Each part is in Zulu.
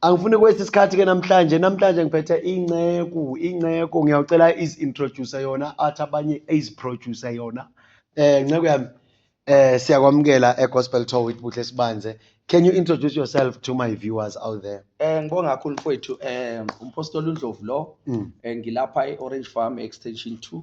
angifuni kwesi sikhathi ke namhlanje namhlanje ngiphethe inceku inceku ngiyawucela is introduce yona athi abanye is producer yona eh nceku yami eh siyakwamukela e gospel tour with buhle sibanze can you introduce yourself to my viewers out there eh ngibonga kakhulu mfowethu eh umpostoli undlovu lo mm. eh, ngilapha e orange farm extension 2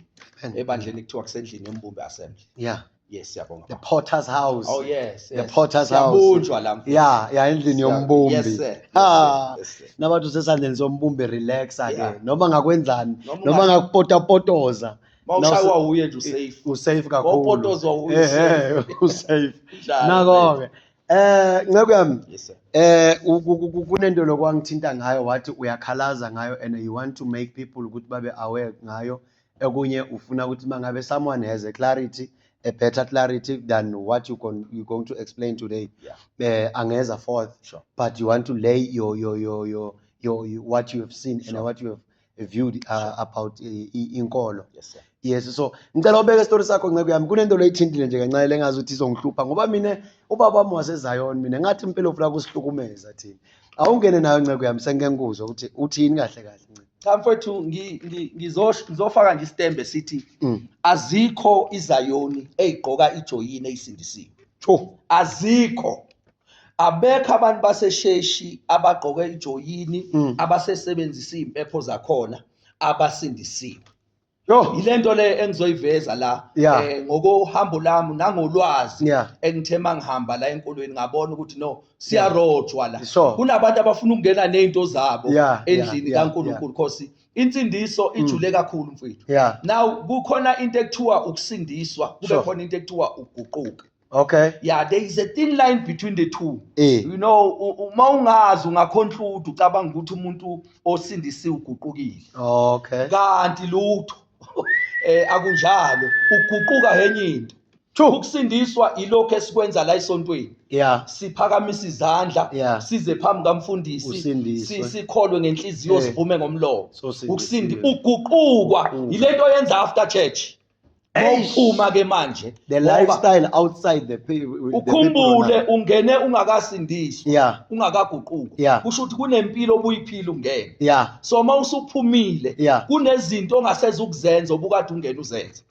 ebandleni kuthiwa kusendlini embumbe assembly yeah yes siyabonga the potter's house oh yes, yes. the potter's house siyabunjwa la mfethu. ya ya endlini Siya- yombumbi yes sir yes, Ah. sir, yes, sir. nabantu usesandleni sombumbi relaxa ke Yeah. noma ngakwenzani Noma noma unga- ngakupotapotoza mawushaywa wuye nje usafe usafe kakhulu Mawupotozwa uyi- Ehhe, usafe Njalo, nako-ke eh nceku yami yes sir eh ku- ku- ku- kunento lokwangithinta ngayo wathi uyakhalaza ngayo and you want to make people ukuthi babe aware ngayo okunye ufuna ukuthi mangabe someone has a clarity a better clarity than what you con, you going to explain today yeah. eh angeza forth sure. but you want to lay your your your your, your, your what you have seen sure. and what you have viewed uh, sure. about uh, inkolo yes sir yes so ngicela ubeke story sakho nceku yami kunento loyithintile nje kancane lengazi ukuthi izongihlupha ngoba mina ubaba wami wasezion mina ngathi impilo ufuna kusihlukumeza thina awungene nayo nceku yami sengike ngikuzwe ukuthi uthini kahle kahle nceba cha mfethu ngi- ngi- ngizosh- ngizofaka nje isitembe sithi Mm. azikho izayoni eyigqoka ijoyini eyisindisiwe Tsho. azikho abekho abantu basesheshi abagqoke ijoyini Mm. abasesebenzisa izimpepho zakhona abasindisiwe Yo yilento le engizoyiveza la yeah. eh ngokuhambo lami nangolwazi yeah. engithe mangihamba la enkolweni ngabona ukuthi no siyarojwa la so, kunabantu abafuna ukungena nezinto zabo yeah, endlini yeah, kaNkulunkulu yeah. khosi insindiso mm. ijule kakhulu mfethu yeah. now kukhona into ekuthiwa ukusindiswa kube so, khona into ekuthiwa ukuguquka Okay. Yeah, there is a thin line between the two. Eh. You know, uma ungazi ungaconclude ucabanga ukuthi umuntu osindisiwe uguqukile. Okay. Kanti lutho eh akunjalo, uguquka henye into. Ukusindiswa ilokho esikwenza la esontweni. Yeah. Siphakamisa izandla, yeah. size phambi kamfundisi, sikholwe ngenhliziyo eh. sivume ngomlomo. Ukusindi uguqukwa yilento yenza after church. Uphuma ke manje the lifestyle outside the ukhumbule ungene ungakasindiswa yeah. ungakaguquka yeah. kusho ukuthi kunempilo obuyiphila ungene yeah. so uma usuphumile yeah. kunezinto ongaseze ukuzenza obukade ungena uzenza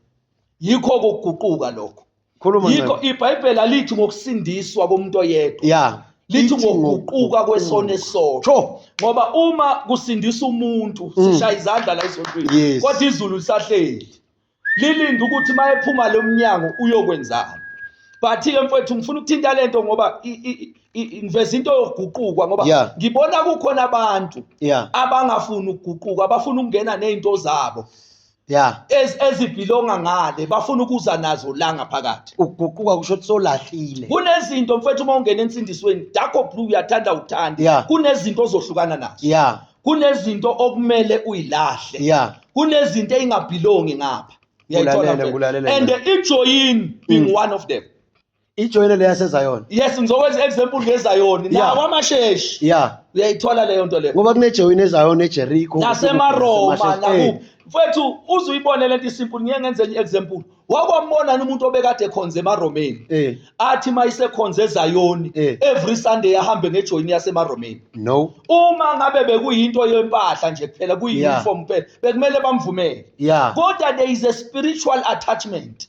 yikho kokuguquka lokho khuluma yikho ibhayibheli alithi ngokusindiswa komuntu oyedwa ya lithi ngokuquka kwesona esosho ngoba uma kusindisa umuntu mm. sishaya izandla la esontweni kodwa izulu lisahleli lilinde ukuthi uma ephuma lo mnyango uyokwenzani but-ke mfowethu ngifuna ukuthinta le nto ngoba ngiveza into yokuguquka ngoba ngibona kukhona abantu abangafuni ukuguquka abafuna ukungena ney'nto zabo ya ezibhilonga ngale bafuna ukuza nazo la ngaphakathi ukuguquka kusho ukuthi solahlile kunezinto mfethu uma ungena ensindisweni dakho blue uyathanda uthanda yeah. kunezinto ozohlukana nazo yeah. kunezinto okumele uyilahle yeah. kunezinto eyingabhilongi ngapha and ijoyini being mm. one of them ijoyine le yasezayona yes ngizokwenza example ngezayoni Yeah. nawo amasheshi ya uyayithola leyo nto leyo ngoba kunejoyine ezayona ejeriko nasemaroma Eh, nakuphi mfethu uze uyibone lento isimple ngiye ngenze enye example wakwambona ni umuntu obekade ekhonze emaromeni eh athi uma isekhonze ezayoni Eh. every sunday ahambe ngejoyini yasemaromeni no uma ngabe bekuyinto yempahla nje kuphela kuyi-uniform kuphela bekumele bamvumele ya kodwa there is a spiritual attachment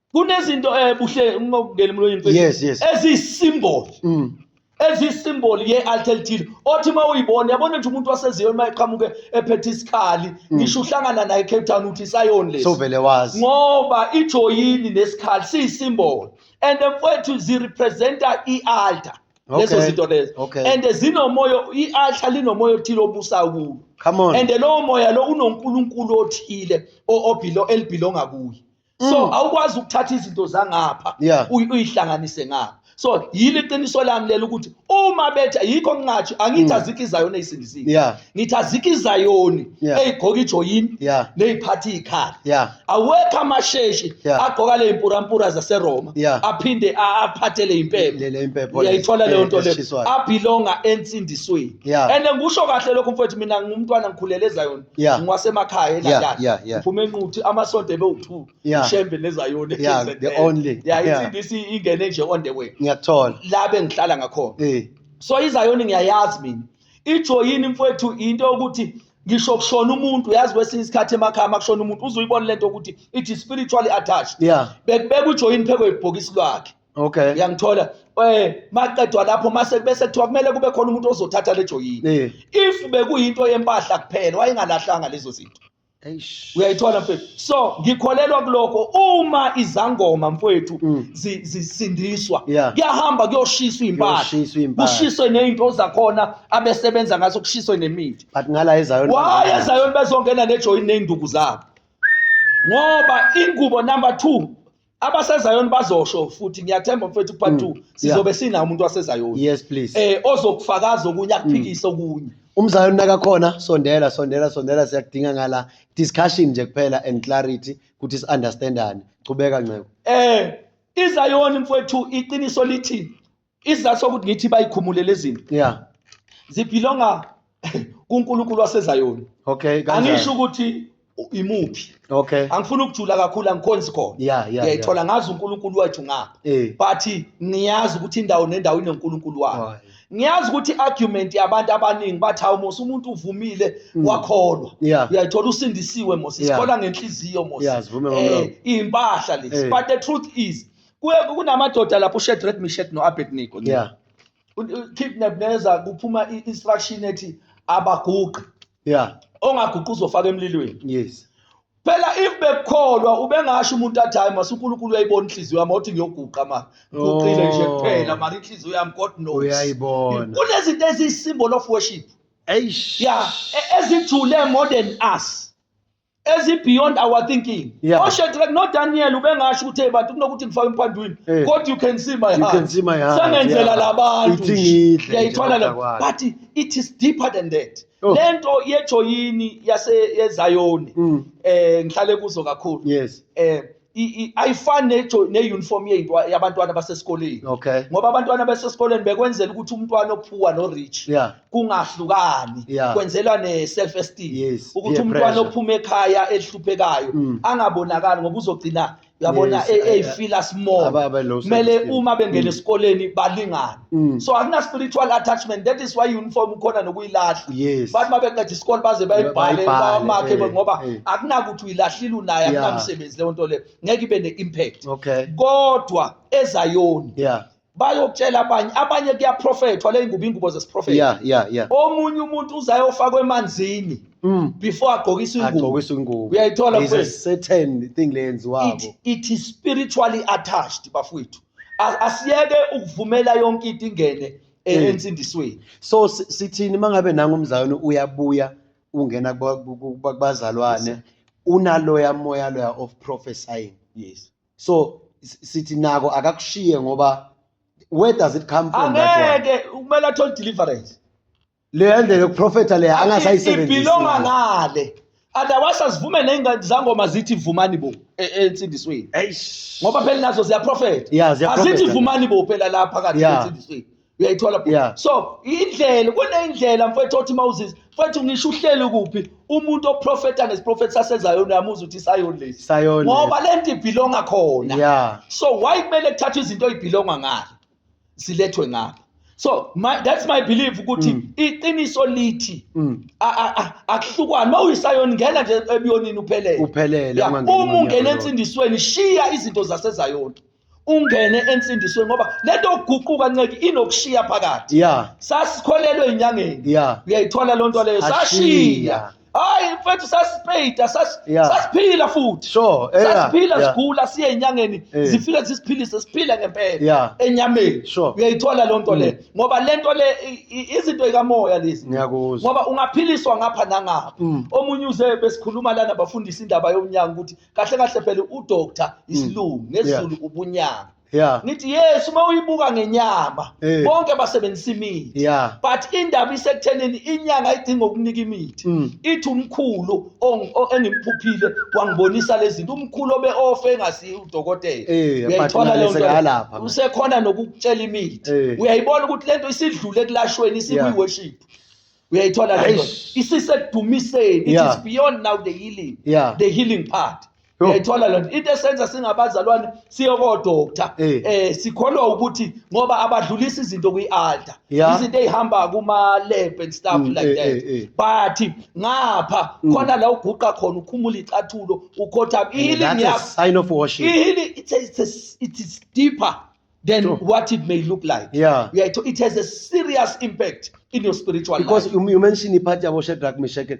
kunezinto eh buhle ngokungena emlonyeni mfethu Yes, yes. eziyisymbol Mm. eziyisymbol ye-alter elithile othi uma uyibona yabona nje umuntu waseziyoni uma eqhamuke ephethe isikhali ngisho uhlangana naye ecape town uthi isayoni lesi Sovele wazi. ngoba ijoyini nesikhali siyisymbol and mfowethu zirepresenta i-altar lezo Okay, zinto lezo okay. and zinomoya i-altar linomoya othile obusayo kulo Come on. and lowo moya lo unonkulunkulu othile o- obhilo- elibhilonga kuye so mm. awukwazi ukuthatha izinto zangapha uyihlanganise ngapha so yile qiniso lami lelo ukuthi uma betha yikho ngingathi angithi mm. azikho izayoni eyisindisile yeah. ngithi azikho izayoni yeah. eyigqoka ijoyini yeah. neyiphatha ikhaya yeah. awekho amasheshi yeah. agqoka le impurampura zaseroma yeah. aphinde aphathele impepho uyayithola leyo nto leyo abhilonga ensindisweni yeah. and ngisho kahle lokho mfowethu mina ngumntwana ngikhulele ezayoni yeah. ngiwasemakhaya elandani yeah, yeah, ngiphume enquthi amasonto ebewuthu yeah. shembe nezayoni yeah, the only yeah, yeah. insindithi ingene nje on the way ngiyakuthola la bengihlala ngakhona hey. Eh. so izayoni ngiyayazi mina ijoyini mfowethu into yokuthi ngisho kushona umuntu yazi kwesinye isikhathi emakhaya makushona umuntu uzuyibona lento ukuthi it is spiritually attached yeah. bekubeka ujoyini phekwe ibhokisi lwakhe okay uyangithola eh maqedwa lapho mase bese kuthiwa kumele kube khona umuntu ozothatha le joyini Eh. if bekuyinto yempahla kuphela wayengalahlanga lezo zinto eish uyayithola mfethu so ngikholelwa kuloko uma izangoma mfethu Mm. zi- zisindiswa Yeah. kuyahamba kuyoshiswa impahla Kuyoshiswa impahla. kushiswe nezinto zakhona abesebenza ngaso kushiswe nemithi but ngala ezayo why ezayoni bezongena nejoyini nezinduku zabo ngoba ingubo number 2 abasezayoni bazosho futhi ngiyathemba mfethu part 2 mm. sizobe sinawo umuntu wasezayoni yes please eh ozokufakaza okunye akuphikise mm. okunye umzayoni nakakhona sondela sondela sondela siyakudinga ngala discussion nje kuphela and clarity ukuthi si understandane qhubeka nceku eh izayoni mfethu iqiniso lithi isizathu sokuthi ngithi bayikhumule lezi zinto yeah zibhilonga kuNkulunkulu wasezayoni okay kanjani angisho ukuthi imuphi okay angifuni ukujula kakhulu angikhonzi khona yeah, yeah, ngiyayithola yeah. ngazi uNkulunkulu wethu ngapha eh. but ngiyazi ukuthi indawo nendawo inoNkulunkulu wayo oh, ngiyazi ukuthi argument yabantu abaningi bathi hawu Musa umuntu uvumile mm. wakholwa yeah. uyayithola usindisiwe Musa sikhola yeah. ngenhliziyo Musa yeah, eh, impahla lezi hey. Eh. but the truth is Ku- kunamadoda lapho uShedrek Mishet no-abednego nje. yeah U- u- keep nebneza kuphuma i- instruction ethi abaguqe yeah ongaguqi uzofaka emlilweni yes phela if bekukholwa ubengasho umuntu athi hayi mase unkulunkulu uyayibona inhliziyo yami othi ngiyoguqa ma guqile nje Oh. kuphela mara inhliziyo yami god knows uyayibona kunezinto eziyi-symbol of worship eish ya e- ezijule more than us ezibeyond our thinking yeah. oshedrack nodaniel ubengasho ukuthi hey bantu kunokuthi ngifake emphandwini hey. Eh. kodwa you can see my heartsengenzela yeah. labantu ngiyayithwala le but it is deeper than that oh. le nto yejoyini yaseyezayoni mm. eh ngihlale kuzo kakhulu yes eh ayifani ne-uniform yabantwana basesikoleni okay. ngoba abantwana basesikoleni bekwenzela ukuthi umntwana ophuwa no-rich yeah. kungahlukani yeah. kwenzelwa ne-self esteem yes. ukuthi umntwana ophuma ekhaya elihluphekayo mm. angabonakali ngoba uzogcina yabona yes, eyifila small kumele uma bengena mm. esikoleni balingane Mm. so akuna spiritual attachment that is why uniform khona nokuyilahla yes. bathi uma beqeda isikole baze bayibhale bawamakhe eh, ngoba eh. akunakuthi uyilahlile unayo akunamsebenzi leyo nto leyo ngeke ibe ne-impact okay. kodwa ezayoni yeah bayokutshela abanye abanye kuyaprofethwa le ngubo ingubo zesiprofetho yeah, yeah, yeah. omunye umuntu uzayofakwa emanzini mm. before agqokise ingubo uyayithola it is spiritually attached bafowethu A- asiyeke ukuvumela yonke into ingene e- Mm. ensindisweni so si- sithini mangabe nangu umzalwane uyabuya ungena kuba- ku- ku- kuba- kubazalwane unaloya moya loya of prophesying yes so s- sithi nako akakushiye ngoba where does it come from that one angeke kumele athole deliverance leya ndlela yokuprofetha leya Athi angasayisebenzisi ibhilonga ngale otherwise asivume ney'ngane zangoma zithi vumani bo e- ensindisweni Eish. ngoba phela nazo ziyaprofetha Yeah, ziyaprofetha. azithi vumani bo phela la phakathi Yeah. ensindisweni uyayithola bhuti? Yeah. so indlela kuneyindlela mfowethu othi uma uzizwa mfowethu ngisho uhleli kuphi umuntu oprofetha ngesiprofethi sasezayoni uyamuza ukuthi isayoni lesi Isayoni. ngoba le nto ibhilonga khona Yeah. so why kumele kuthathwe izinto ey'bhilonga ngale silethwe ngapha so my, that's my belief ukuthi mm. iqiniso lithi mm. akuhlukwane uma uyisayoni ngena nje ebuyonini uphelele uphelele uma ungena ensindisweni shiya izinto zasezayoni ungene ensindisweni ngoba lento okuguquka nceki inokushiya phakathi yeah. sasikholelwe inyangeni yeah. uyayithola loo nto leyo sashiya hayi mfethu sasipeyida sas- Yeah. sasiphila futhi Sure, eh, yeah, sasiphila yeah. sigula siye enyangeni Eh. zifike zisiphilise siphile ngempela Yeah. enyameni Sure. Mm. uyayithola loo nto le ngoba le nto le i- i- izinto ikamoya lezi ngiyakuzwa ngoba ungaphiliswa ngapha nangapha Mm. omunye uze besikhuluma lana bafundisa indaba yomnyanga ukuthi kahle kahle phela udoctor isilungu ngesiZulu ubunyanga yeah. ngithi yes uma uyibuka ngenyama hey. Eh. bonke basebenzisa imithi yeah. but indaba isekuthenini inyanga idinga ukunika imithi mm. ithi umkhulu engimphuphile wangibonisa lezi zinto umkhulu obe ofe engasiyi udokotela hey, eh, uyayithola leyo nto usekhona nokukutshela imithi hey. Eh. uyayibona ukuthi lento isidlule ekulashweni isikuyiworship yeah uyayithola lento isisekudumiseni it yeah. is beyond now the healing yeah. the healing part uyayithola lento into esenza singabazalwane siyokodoktar eh. eh sikholwa ukuthi ngoba abadlulisa izinto kwi-altar izinto ey'hamba kuma-lab and stuff mm, like eh, that eh, but ngapha mm. khona la uguqa khona ukhumula icathulo ukhothama i-healing yakho it's, it's, it's, it's deeper than Sure. what it may look like. Yeah. Yeah, it, it has a serious impact in your spiritual because life. you, you mentioned ipart yabo Shadrach Meshach and-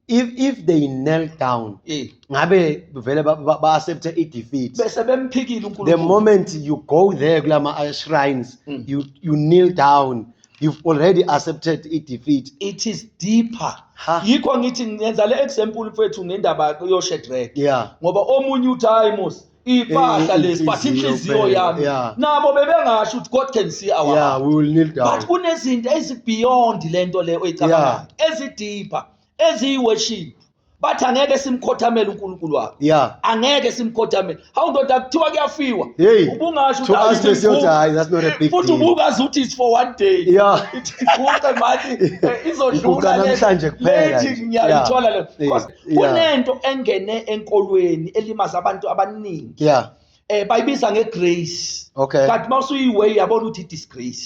if if they kneel down Eh, ngabe vele ba- ba ba accept i defeat Bese bemphikile the uNkulunkulu. moment you go there kulama uh, shrines Mm. you you kneel down you've already accepted i defeat It is deeper. Ha. Yikho ngithi ngenza le example mfethu ngendaba yoShedrack. yeah Ngoba omunye uthi hayi Musa ipahla Eh, lesi but inhliziyo inhliziyo phela, yami yeah. nabo bebengasho ukuthi god can see our yeah heart we will kneel down but kunezinto ezibeyond lento le oyicabangayo ezideeper eziyiworship bathi angeke simkhothamele uNkulunkulu wakhe yeah angeke simkhothamele hawu ndoda kuthiwa kuyafiwa Hey, ubungasho to ukuthi us they say, ayithi "Hayi, that's not a big futhi deal." ubukazi ukuthi it's for one day Yeah. Ithi iguqe manje eh, Iguqa izodlula le- namhlanje kuphela lethi nje. ngiyayithola Yeah. le Yeah. Because kunento engene enkolweni elimaza abantu abaningi yeah eh bayibiza ngegrace okay kanti mawusuyiway yabona ukuthi disgrace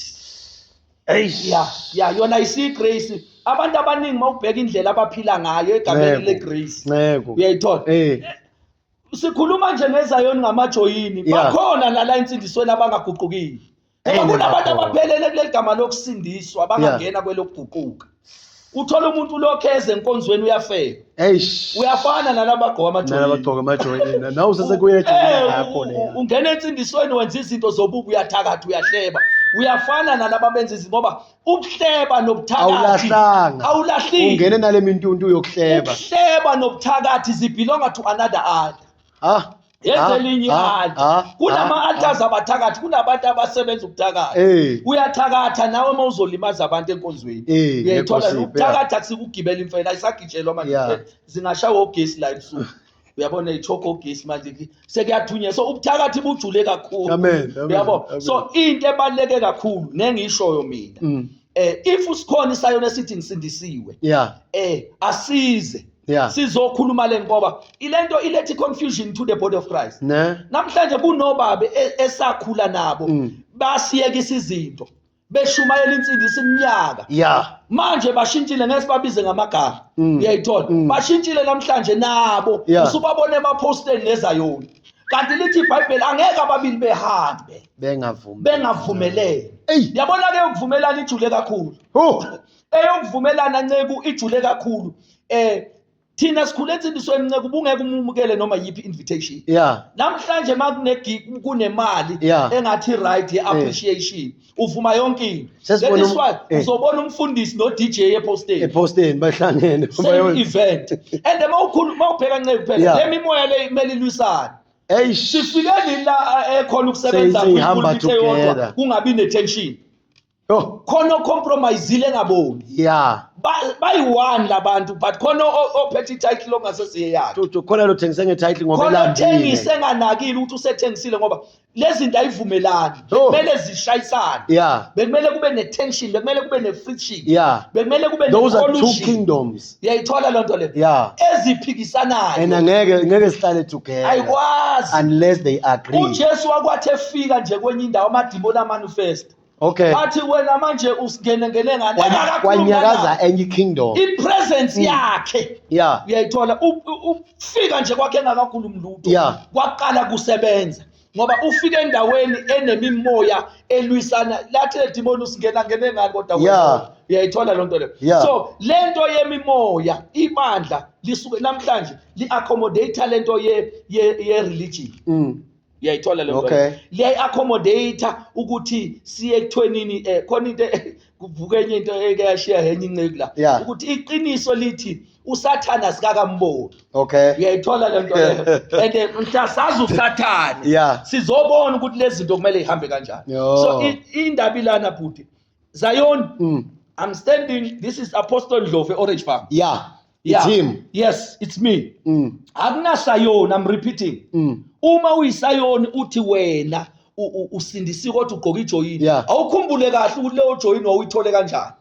eish yeah yeah yona isigrace abantu abaningi mawubheka indlela abaphila ngayo egameni legrace nceko uyayithola eh sikhuluma nje ngezayoni ngamajoyini bakhona nala insindisweni abangaguqukile ngoba Eyi, kunabantu lapho. abaphelele kuleli gama lokusindiswa abangangena kwelokuguquka uthola umuntu ulokhu eze enkonzweni uyafeka eish uyafana nalaba agqoka amajoli nalabagqoka amajoyina nawe usesekuye ejoyina Eh, yakho u- leya u- ungena ensindisweni wenza izinto zobubi uyathakatha uyahleba uyafana nalaba benza izinto ngoba ukuhleba nobuthakathi awulahlanga awulahlile ungene nale mintuntu yokuhleba ukuhleba nobuthakathi zibelonga to another eye ah yenze ah, elinye ah, altar ah, kunama-altars abathakathi kunabantu abasebenza ukuthakatha eh. uyathakatha nawe uma uzolimaza abantu enkonzweni eh, uyayithola ukuthakatha kusikugibela imfela isagitshelwa manje zingashawa ogesi la ebusuku uyabona ithoko ogesi manje sekuyathunywa so ubuthakathi bujule kakhulu uyabo so into ebaluleke kakhulu nengishoyo mina mm. eh if usikhona isayona esithi ngisindisiwe yeah eh asize yeah. sizokhuluma le ngoba ilento ilethi confusion to the body of christ ne namhlanje kunobabe e- esakhula nabo Mm. basiyekisa izinto beshumayela insindisa iminyaka yeah manje bashintshile ngeke sibabize ngamagama Mm. uyayithola Mm. bashintshile namhlanje nabo Yeah. usubabona emaposteni nezayona kanti lithi ibhayibheli angeke ababili behambe bengavumi bengavumelene Eyi. yabona ke ukuvumelana ijule kakhulu Huh. eyokuvumelana nceku ijule kakhulu eh thina sikhule ensindisweni nceku ubungeke umumukele noma yiphi invitation yeah namhlanje makune gig kunemali Yeah. engathi right ye appreciation uvuma yonke into Sesibona That is um- why eh. uzobona umfundisi no DJ epostage ephosteni bahlangene same bayo- event and uma ukhulu uma ubheka nceku phela Yeah. lemimoya le kumele ilwisane eish sifike nini la eh, ekhona ukusebenza Seyi- seyihamba kwi-pulpit eyodwa, together. kungabi ne-tension Yo, khona ocompromisile engaboni yeah Ba- bayi-one labantu but khona o- ophethe ititle ongasesiye yakhe Tutu khona lo thengise nge title ngoba khona elandile. othengise enganakile ukuthi usethengisile ngoba lezi zinto ayivumelani Yo. bekumele zishayisane Yeah. bekumele kube ne-tension bekumele kube ne-friction Yeah. bekumele kube Those are two ne-collusion. kingdoms. uyayithola loo nto leyo Yeah. And eziphikisanayo ngeke ngeke sihlale together ayikwazi unless they agree. ujesu wakwathi efika nje kwenye indawo amadimoni amanifesta okay athi wena manje usingene ngene ngane Kwanya- Engakakhuluma kwanyakaza nawe. enye ikingdom ipresence yakhe ya uyayithola u- u- ufika nje kwakhe engakakhulumi lutho Yeah. kwaqala kusebenza ngoba ufika endaweni enemimoya elwisana lathi ledimoni usingena ngene ngani kodwa wena. Yeah. uyayithola loo nto leyo Yeah. so le nto yemimoya ibandla lisuke namhlanje li-accommodate le nto ye- ye- ye-religion Mm. uyayithola le okay. liyayi-accommodate ukuthi siye ekuthwenini um eh, khona into e-, kuvuka enye into eke yashiya henye inceku la yeah. ukuthi iqiniso lithi usathane asikakamboni okay uyayithola le nto leyo and eh, mhla sazi usathane yeah. sizobona ukuthi lezi zinto kumele ihambe kanjani so indaba ilana bhuti Zion, mm. I'm standing. This is Apostle Ndlovu, Orange Farm. Yeah. Yeah. It's him. Yes, it's me. Mm. Akunasayoni, I'm repeating. Mm. Uma uyisayoni uthi wena usindisi kodwa ugqoka ijoyini. Yeah. Awukhumbule kahle ukuthi leyo joyini wawuyithole kanjani.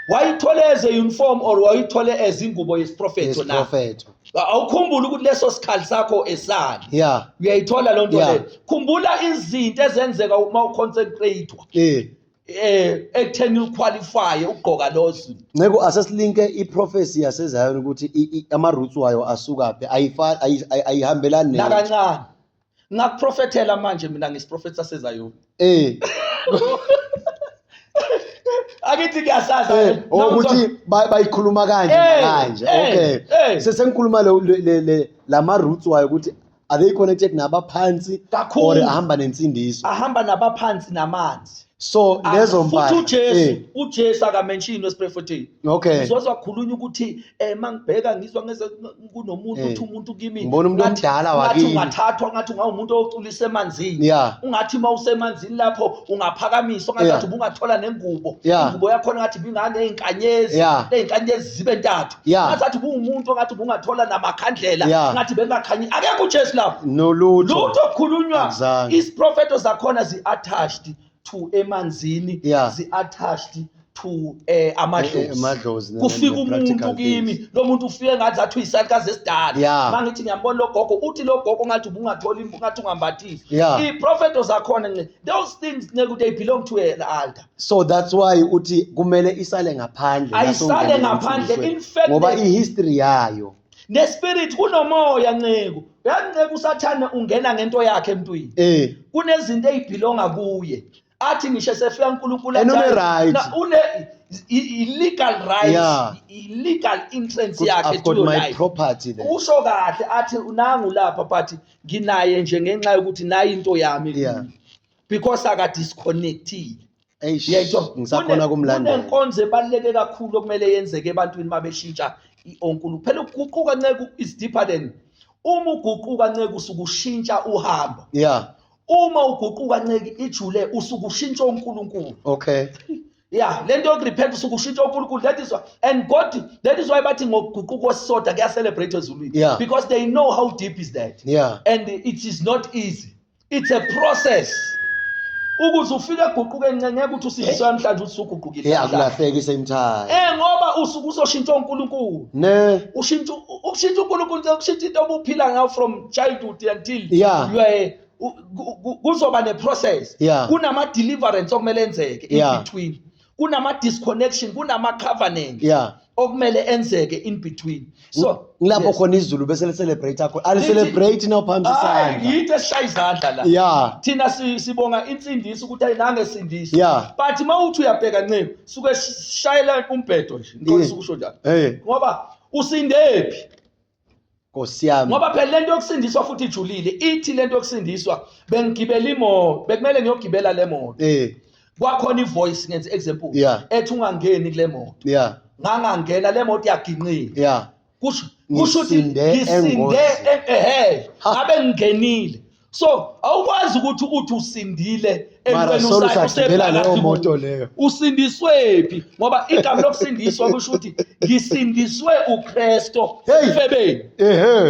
Wayithole as a uniform or wayithole as ingubo yesiprofetho na? Yes, awukhumbula ukuthi leso sikhali sakho esani yeah uyayithola loo nto leyo khumbula izinto ezenzeka uma uconcentrate-wa eh eh ekutheni uqualify ugqoka losi nceko asesilinke iprofesi yasezion ukuthi ama-roots wayo asukaphi ayihambelani nakancane ngakuprofethela manje mina ngisiprofethi sasezayoni eh akithi kuyasaza eh, ukuthi bayikhuluma kanje eh, kanje eh, okay sesengikhuluma le lama roots wayo ukuthi are they connected nabaphansi or ahamba nensindiso ahamba nabaphansi namanzi so ah, lezo mbali futhi uJesu eh. uJesu akamenshini wesiphrofethini okay uzozwa kukhulunywa ukuthi eh mangibheka ngizwa ngeze kunomuntu eh. uthi umuntu kimi ngibona umuntu omdala wakini ngathi ungathathwa ngathi ungawumuntu oculisa emanzini ungathi uma usemanzini lapho ungaphakamiswa ngathi ungathola nengubo ingubo yakho ngathi bingane izinkanyezi lezinkanyezi zibe ntathu Yeah. ngathi kuwumuntu ongathi bungathola namakhandlela Yeah. ngathi bengakhanyi akekho ujesu lapho nolutho lutho kukhulunywa Akuzange. isiprofeto zakhona zi-attached to emanzini Yeah. zi-attached to um Eh, amadlozi amadlozi ne- kufika ne- umuntu practical kimi things. lo muntu ufike ngathi athi uyisalukazi esidala Yeah. ma ngithi ngiyambona lo gogo uthi lo gogo ngathi ubungatholi impu ngathi ungambathisi Yeah. iprofeto zakhona nce those things nekuthi they belong to an altar so that's why uthi kumele isale ngaphandle ayisale ngaphandle infected ngoba ihistory yayo nespirit kunomoya nceku yanceku usathane ungena ngento yakhe emntwini eh kunezinto ezibhilonga kuye athi ngisho sefika uNkulunkulu right une illegal right yeah. illegal entrance yakhe to your life property then usho kahle athi nangu lapha but nginaye nje ngenxa yokuthi nayi into yami yeah. because aka disconnectile Eish, yayitho ngisakhona kumlandela. kunenkonzo ebaluleke kakhulu okumele yenzeke ebantwini uma beshintsha i-onkulu phela ukuguquka nceku is deeper than uma uguquka nceku usuke ushintsha uhambo yeah uma uguquka nceki ijule usuke ushintsha uNkulunkulu okay yeah lento yokurepent usuke ushintsha uNkulunkulu that is why and God that is why bathi ngokuguquka kwesisoda kuya celebrate ezulwini Yeah. because they know how deep is that Yeah. and it is not easy it's a process ukuze ufike eguquke ncenceke ukuthi usindiswe namhlanje ukuthi usuguqukile yeah kulahleki same time eh ngoba usuku uzoshintsha uNkulunkulu ne ushintsha ukushintsha uNkulunkulu ukushintsha into obuphila ngayo from childhood until yeah. you are kuzoba ne process yeah. kunama deliverance okumele enzeke in yeah. between kunama disconnection kunama covenant yeah okumele enzeke in between so ngilapho yes. khona izulu bese le celebrate akho ali celebrate now phambi sandla yithe shay izandla la yeah thina sibonga insindiso ukuthi ayinange sindisa yeah but mawuthi uyabheka ncebe suke shayela umbhedo nje ngikho ukusho njalo ngoba usindephi nkosiyami ngoba phela lento yokusindiswa futhi ijulile ithi lento yokusindiswa bengigibela imoto bekumele ngiyogibela le moto eh kwakhona ivoice ngenze example yeah. ethi ungangeni kule moto yeah ngangangena le moto yaginqile yeah kusho kusho ukuthi ngisinde ehe ngabe ngingenile so awukwazi ukuthi uthi usindile entweni usaphakathi usindiswephi ngoba igama lokusindiswa kusho ukuthi ngisindiswe uKristo efebeni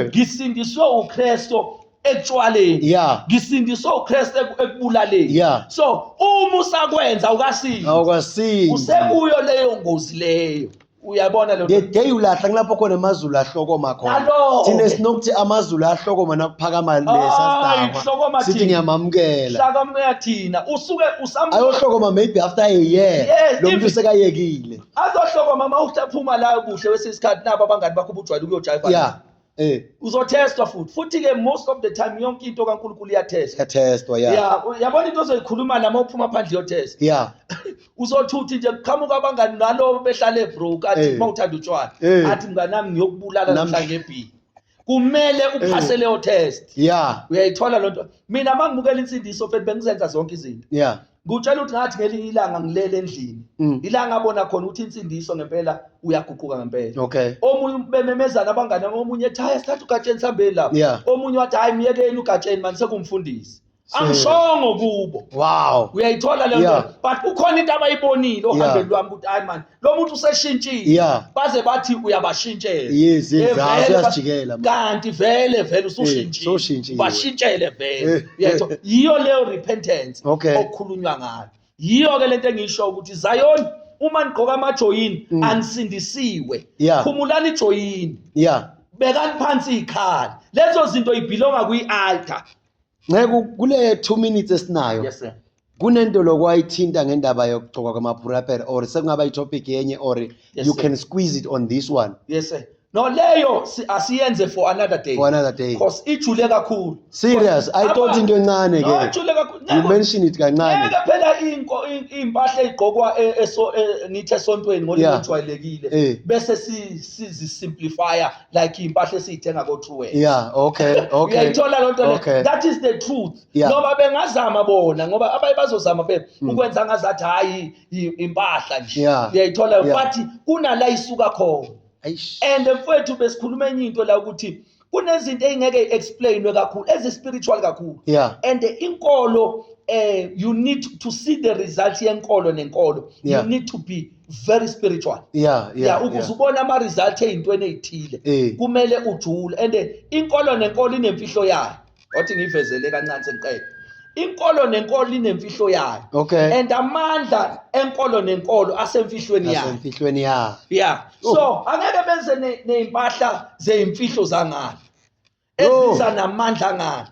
ngisindiswe uKristo ekutshwaleni yeah. ngisindiswe uKristu ekubulaleni yeah. so uma usakwenza awukasindi awukasindi usekuyo leyo ngozi leyo uyabona lo the day ulahla kulapho khona amazulu ahlokoma khona Nalo-ke. thina sinokuthi amazulu ahlokoma nakuphakama Hayi, lesasidakwa hlokoma sithi thina. ngiyamamukela hlaka moya thina usuke usam ayohlokoma maybe after a year Yes, lo muntu if- sekayekile azohlokoma uma uhlaphuma la kuhle kwesinye isikhathi nabo abangani bakho ubujwayele ukuyojayiva yeah Eh. Uzothestwa futhi. Futhi ke most of the time yonke into kaNkulunkulu iyathestwa. Iyathestwa yeah. Yeah, yabona into ozoyikhuluma nami ophuma phandle yothestwa. Yeah. Uzothuthi nje kuqhamuka abangani nalo behlale bro kathi eh. mawuthanda utshwala. Eh. Athi mngani nami ngiyokubulala namhla ngebhi. Kumele uphase leyo test. Yeah. Uyayithola lonto. Mina mangibukela insindiso futhi bengizenza zonke izinto. Yeah. ngutshela ukuthi ngathi ngelinye ilanga ngilele endlini mm. ilanga abona khona ukuthi insindiso ngempela uyaguquka ngempela okay omunye bememezana abangane omunye ethi hayi sithatha ugatsheni sihambeni lapho yeah. omunye wathi hayi myekeni ugatsheni manje sekumfundisi angishongo kubo wow uyayithola le nto yeah. but kukhona into abayibonile ohambeni yeah. lwami ukuthi hayi mani lo muntu useshintshile Yeah. baze bathi uyabashintshela Yes, Eh, yes, hawu, vele ba- uyasijikela, man. kanti vele vele Eh, usushintshile sewushintshile. bashintshele vele Eh, uyayitho eh. yiyo leyo repentance Okay. okukhulunywa ngayo yiyo ke lento engiyisho ukuthi Zion uma nigqoka amajoyini Mm. anisindisiwe Yeah. khumulani ijoyini yeah bekani phansi ikhali lezo zinto ibhilonga kwi-altar nceku kule two minutes esinayo yes sir kunento lokwayithinta ngendaba yokugcoka kwamaphuraper or sekungaba itopic yenye or yes, you sir. can squeeze it on this one yes sir no leyo asiyenze for another day for another day because ijule kakhulu serious i thought into encane ke ijule kakhulu you mention it kancane ngeke phela inko impahla igqokwa e- eso e- ngithi esontweni ngolimi ojwayelekile eh. bese si simplifier like impahla esiyithenga ko True Wear yeah okay okay uyayithola loo nto okay. that is the truth yeah. ngoba bengazama bona ngoba abaye bazozama phela mm. ukwenza ngazathi hayi impahla nje yeah. uyayithola yeah. but kunala isuka khona and mfowethu besikhuluma enye into la ukuthi kunezinto eyingeke explainwe kakhulu ezi spiritual kakhulu yeah. and inkolo eh you need to see the result yenkolo nenkolo yeah. you need to be very spiritual yeah yeah, yeah ukuze ubona ama result ezintweni ezithile eh. kumele ujule and inkolo nenkolo inemfihlo yayo wathi ngivezele kancane sengiqede inkolo nenkolo inemfihlo yayo okay and amandla enkolo nenkolo asemfihlweni yayo asemfihlweni yayo yeah oh. so angeke benze nezimpahla zeimfihlo zangalo eziza namandla ngani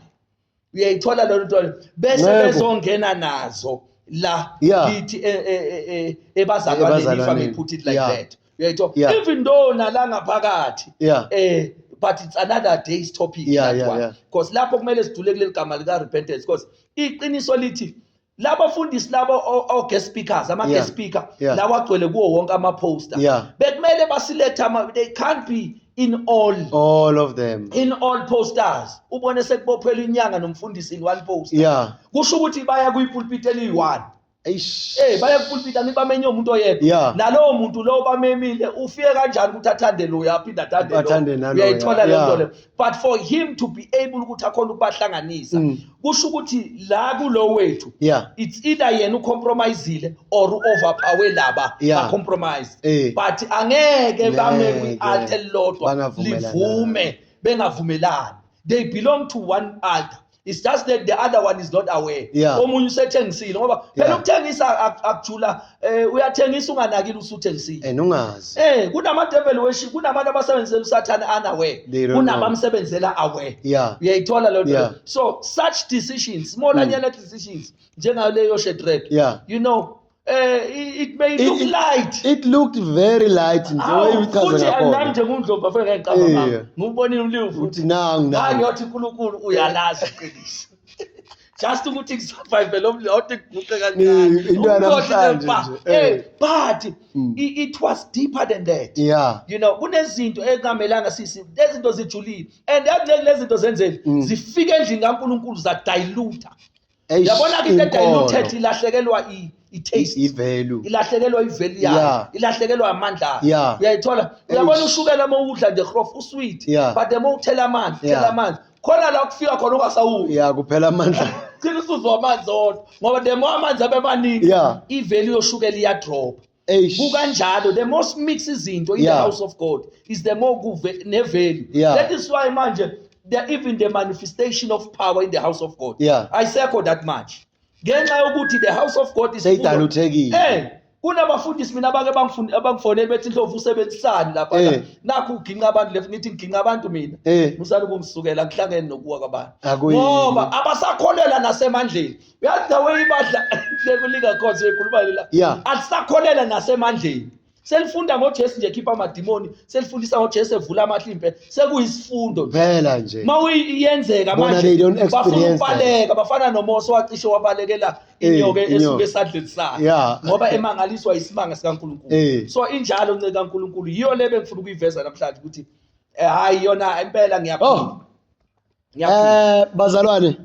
uyayithola lelo nto bese bezongena nazo la yithi e, e, e, ebazalwaneni if i put it like that uyayithola even though nala ngaphakathi eh but it's another day's topic yeah, that yeah, one because yeah. lapho kumele sidule kuleli gama lika repentance because iqiniso lithi laba fundisi laba o guest speakers ama guest speaker lawa agcwele kuwo wonke ama poster bekumele basilethe ama they can't be in all all of them in all posters ubone sekubophela inyanga nomfundisi in one poster yeah kusho ukuthi baya kuyi pulpit eliyi-one eish eh baya kupulpit anibamenye umuntu oyedwa nalowo muntu lowo bamemile ufike kanjani ukuthi athande loya aphinde athande loya uyayithola le nto leyo but for him to be able ukuthi akhona ukubahlanganisa mm. kusho ukuthi la kulo wethu yeah. it's either yena ucompromisile or uoverpower laba yeah. bacompromise hey. Eh. but angeke bame kwi-alt elilodwa livume bengavumelani they belong to one altar it's just that the other one is not aware yeah. omunye usethengisile ngoba phela yeah. ukuthengisa akujula eh uyathengisa unganakile usuthengisile and ungazi eh kunama devil worship kunabantu abasebenzela usathana unaware kunabamsebenzela aware yeah uyayithola lento yeah. so such decisions more mm. than decisions njengaleyo shedred yeah. you know Eh, it may it, look light it looked very light nje wayichaza ngakhona futhi nje kundlovu afike ngicabanga ngakho ngubonile uliwu futhi nangu nangu ngiyothi uNkulunkulu uyalazi iqiniso just ukuthi ngisurvive lo mlodi ngiguqe kancane into yanamhlanje eh but hmm. it was deeper than that yeah you know kunezinto ekungamelanga sisi lezinto zijulile and yakulezi zinto zenzeni hmm. zifike endlini kaNkulunkulu za dilute Eish, yabona ke into inkolo. ediluted ilahlekelwa i- i-taste I- i-value. ilahlekelwa iveli yayo Yeah. ilahlekelwa amandla ayo Yeah. uyayithola uyabona Eish. ushukela uma uwudla nje hrof usweet Yeah. but uma uthela amanzi Yeah. thela amanzi khona la kufika khona ungasawudli ya kuphela amandla gcina usuzwa amanzi odwa ngoba the more amanzi abe maningi Yeah. iveli yoshukela iyadropa kukanjalo the more simix izinto in yeah. the house of god is the more kuve nevalue yeah. that is why manje the, even the manifestation of power in the house of god yeah. ayisekho that much ngenxa yokuthi the house of god is seyidaluthekile eh kunabafundisi mina abake bangifuni abangifonele bethi ndlovu usebenzisani lapha eh. nakho uginqa abantu lefu ngithi ngiginqa abantu mina eh. musani kungisukela ngihlangene nokuwa kwabantu ngoba abasakholela nasemandleni uyazi the way ibadla sekulika khona sekhuluma lela Yeah. alisakholelwa nasemandleni selifunda ngojesu nje khipha amadimoni selifundisa ngojesu evula amahlimpe sekuyisifundo nje phela nje ma uyenzeka Bona they don't manje bafuna experience that. ukubaleka bafana nomosa wacishe wabalekela Eh, inyoka inyoka. esuke esadleni sakhe Yeah. ngoba emangaliswa isimanga sikankulunkulu Eh. so injalo nceke kankulunkulu yiyo le bengifuna ukuyiveza namhlanje ukuthi eh, hhayi yona impela ngiyaphila Oh. eh bazalwane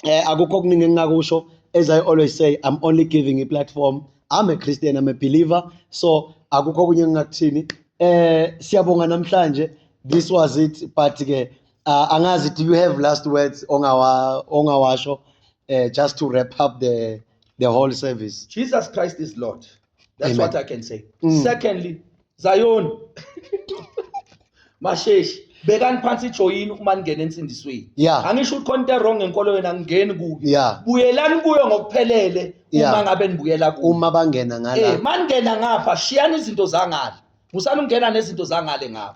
eh akukho okuningi engingakusho as i always say i'm only giving a platform i'm a christian i'm a believer so akukho okunye engingakuthini eh siyabonga namhlanje this was it but ke uh, angazi do you have last words ongawa ongawasho uh, just to wrap up the the whole service jesus christ is lord That's Amen. what I can say. Mm. Secondly, Zion. Masheshi, bekani phansi ijoyini uma ningena ensindisweni. Yeah. Angisho ukuthi khona into wrong ngenkolo yena ngingeni kuyo. Yeah. Buyelani kuyo ngokuphelele uma Yeah. ngabe nibuyela kuyo. uma bangena Eh, ngala maningena ngapha shiyani izinto zangale. Musani ukungena nezinto zangale ngapha.